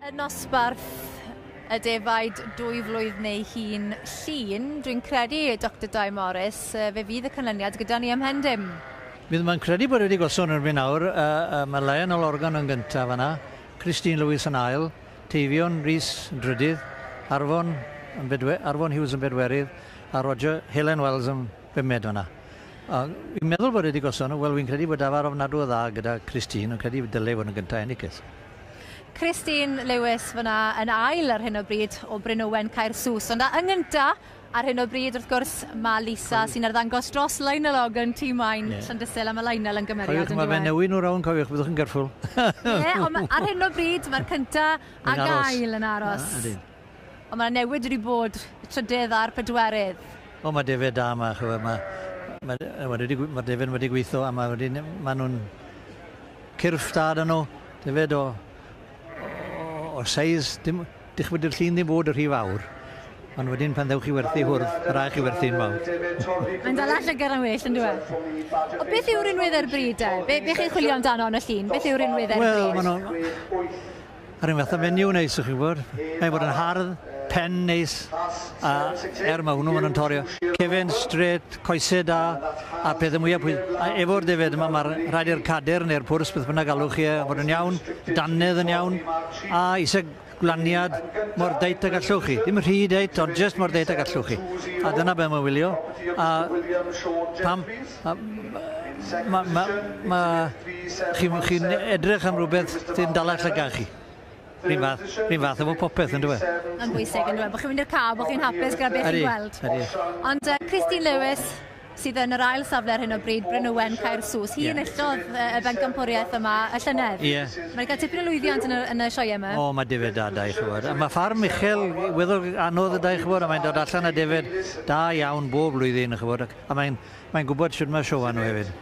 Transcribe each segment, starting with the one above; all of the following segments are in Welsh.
Y nosbarth y defaid dwy flwydd neu hun llun, dwi'n credu, Dr Dai Morris, fe fydd y canlyniad gyda ni ymhen dim. Bydd mae'n credu bod wedi gosod erbyn awr, uh, uh, mae Lionel Organ yn gyntaf yna, Christine Lewis yn ail, Teifion Rhys yn drydydd, Arfon, yn bedwe, Arfon Hughes yn bedwerydd, a Roger Helen Wells yn Be mae dona? O, fi'n meddwl bod e wedi gosod nhw. Wel, fi'n credu bod dafarn ofnadw o dda gyda Christine, ond credu dyle e fod yn gyntaf ennicydd. Christine Lewis fyna yn ail ar hyn o bryd o Bryn Owen Caersws, ond yn gynta ar hyn o bryd wrth gwrs mae Lisa sy'n arddangos dros Lionel Ogden, tîm Maen, yeah. Llandysul, a mae Lionel yn gymeriad yn dweud. Mae fe newid nhw rawn, cofiwch, byddwch yn gyrffwl. Ie, ond ar hyn o bryd mae'r cynta a gael yn aros. Na, Ond mae 'na newid wedi bod, y trydydd a'r pedwerydd. O mae defaid da yma ch'bo' ma' ma' yy wedi digw- ma'r defaid wedi gwitho a ma' wedi ne- ma' nw'n cyrff da 'da nw, defaid o o o seis dim dich'bo' dyw'r llun ddim bod y' rhy fawr ond wedyn pan ddewch chi werthu i hwrdd ma' rai' chi werthu'n fawr. Mae'n dala llygad am well on'd yw e? O beth yw'r rinwedd ar y bryd de? Be' be' chi'n chwilio amdano yn y llun? Beth yw'r rinwedd ar y bryd? Wel ma' nw Yr un fath o fenyw neis, chi'n gwybod. Mae bod yn hardd, pen neis, a er mae hwnnw yn torio. Cefn strêt, coesau da, a'r pethau mwyaf pwy... A efo'r defaid yma, mae rhaid i'r cadr neu'r pwrs, beth bynnag alwch chi e, fod yn iawn, dannedd yn iawn, a eisiau glaniad mor deit a gallwch chi. Dim rhy deit, ond jyst mor deit a gallwch chi. A dyna beth mae'n wylio. A pam... Chi'n edrych am rhywbeth sy'n dal eich llygad chi. Rhyn fath, rhyn fath efo popeth, yn dweud. Yn bwysig, yn dweud, bod chi'n mynd i'r car, bod chi'n hapus gyda beth chi'n gweld. Ond Christine Lewis, sydd yn yr ail safle ar hyn o bryd, Bryn Owen, Caer Sws. Hi yn illodd y bencampwriaeth yma y llynedd. Ie. Mae'n cael tipyn o lwyddiant yn y, yn y sioe yma. O, mae defaid da, da i chwbod. Mae ffarm uchel, weddol anodd da i chwbod, a mae'n dod allan a defaid da iawn bob blwyddyn, chwbod. A mae'n, mae'n gwybod shwt mae show arno hefyd.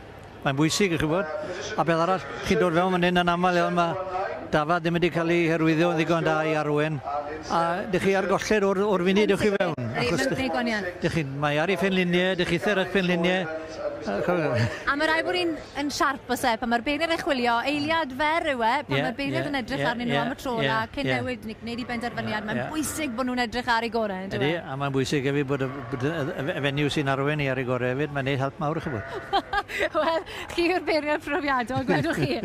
Mae'n bwysig, chi'n gwybod. A peth arall, chi'n dod fewn fan hyn yn aml iawn, mae dafad ddim wedi cael ei hyrwyddo yn ddigon da i Arwen. A dych chi ar golled o'r, o'r funud dych chi fewn. Achos dych, dych chi'n, mae ar ei phenluniau, dych chi ar eich penluniau. A mae rhaid bod ni'n yn siarp os e, pan mae'r beirniad yn chwilio, eiliad fer yw e, pan yeah, mae'r beirniad yeah, yn edrych yeah, arnyn nhw yeah, am y tro yeah, a cyn yeah. newid, gwneud i benderfyniad, yeah, mae'n yeah. bwysig bod nhw'n edrych ar ei gorau. Ydy, e? a mae'n bwysig hefyd bod y, bod y, y fenyw sy'n arwen i ar ei gorau hefyd, mae'n gwneud help mawr chi bod. Wel, chi yw'r beirniad profiadol, gwedwch chi.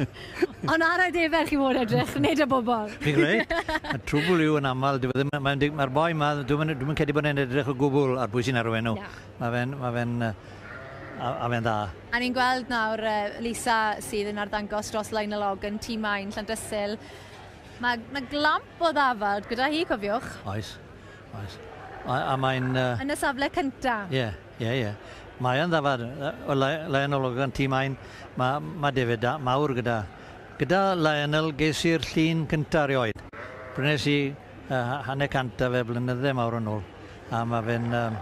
Ond ar y defer chi fod edrych, nid y bobl. Fi'n gwneud. Y trwbl yw yn aml, mae'r boi yma, dwi'n mynd cedi bod yn edrych o gwbl ar bwy sy'n arwen nhw. Mae fe'n, mae fe'n, a, a fe'n dda. A ni'n gweld nawr Lisa sydd yn arddangos dros Lionel Ogden, Tŷ Maen, Llandysul. Mae yna glamp o ddafod gyda hi, cofiwch. Oes, oes. A, a mae'n... Uh... Yn y safle cynta. Ie, yeah, ie, yeah, ie. Yeah. Mae yn ddafod. O Lionel Ogden, Tŷ Maen, mae, mae defyd mawr gyda. Gyda Lionel ges i'r llun cynta rioed. Prynes i uh, hanner cant a fe blynydde mawr yn ôl. A mae fe'n um,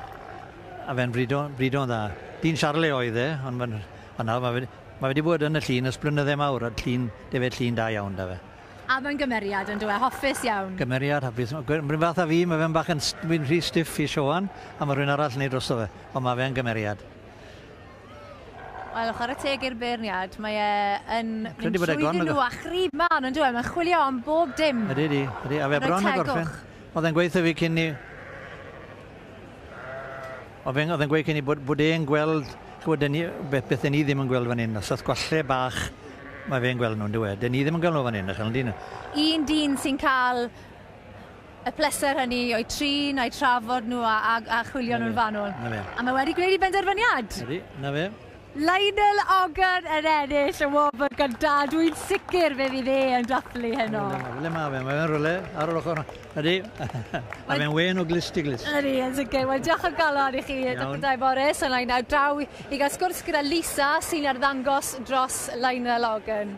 a fe'n brido'n brido dda. Dyn Charlie oedd e, ond mae'n ma nawr mae fe, ma wedi bod yn y llun ys blynydde mawr, a llun, defe llun da iawn da fe. A mae'n gymeriad yn dweud, hoffus iawn. Gymeriad, hapus. Mae'n fath a fi, mae fe'n bach yn rhy stiff i Sioan, a mae rhywun arall yn ei drosto fe, ond mae fe'n gymeriad. Wel, chwarae teg i'r beirniad, mae e yn mynd trwyddyn nhw a chrib man, ond dwi'n e? Mae'n chwilio am bob dim. Ydy, ydy, ydy. A fe bron yn gorffen. Oedd e'n gweithio fi cyn i... Oedd e'n gweithio cyn i bod, bod e'n gweld bod ni, beth, beth ni ddim yn gweld fan hyn, os oedd gwalle bach mae fe'n gweld nhw'n dweud. Dyn ni ddim yn gweld nhw fan hyn, ychel, dyn nhw. Un dyn sy'n cael y pleser hynny o'u trin, a'u trafod nhw a, a, a chwilio nhw'n fanwl. Na fe. A mae wedi gwneud i benderfyniad. Ydy, na fe. Lionel Ogden yn ennill y wobr gyda. Dwi'n sicr fe fydd e yn dathlu heno. Le mae fe? Mae fe'n rhywle ar yr ochr. Ydy. Mae fe'n wen o glist i glist. Ydy, yn sicr. Wel, diolch o galon i chi, Dr Dai Morris. Yna i nawr draw i gael sgwrs gyda Lisa sy'n arddangos dros Lionel Ogden.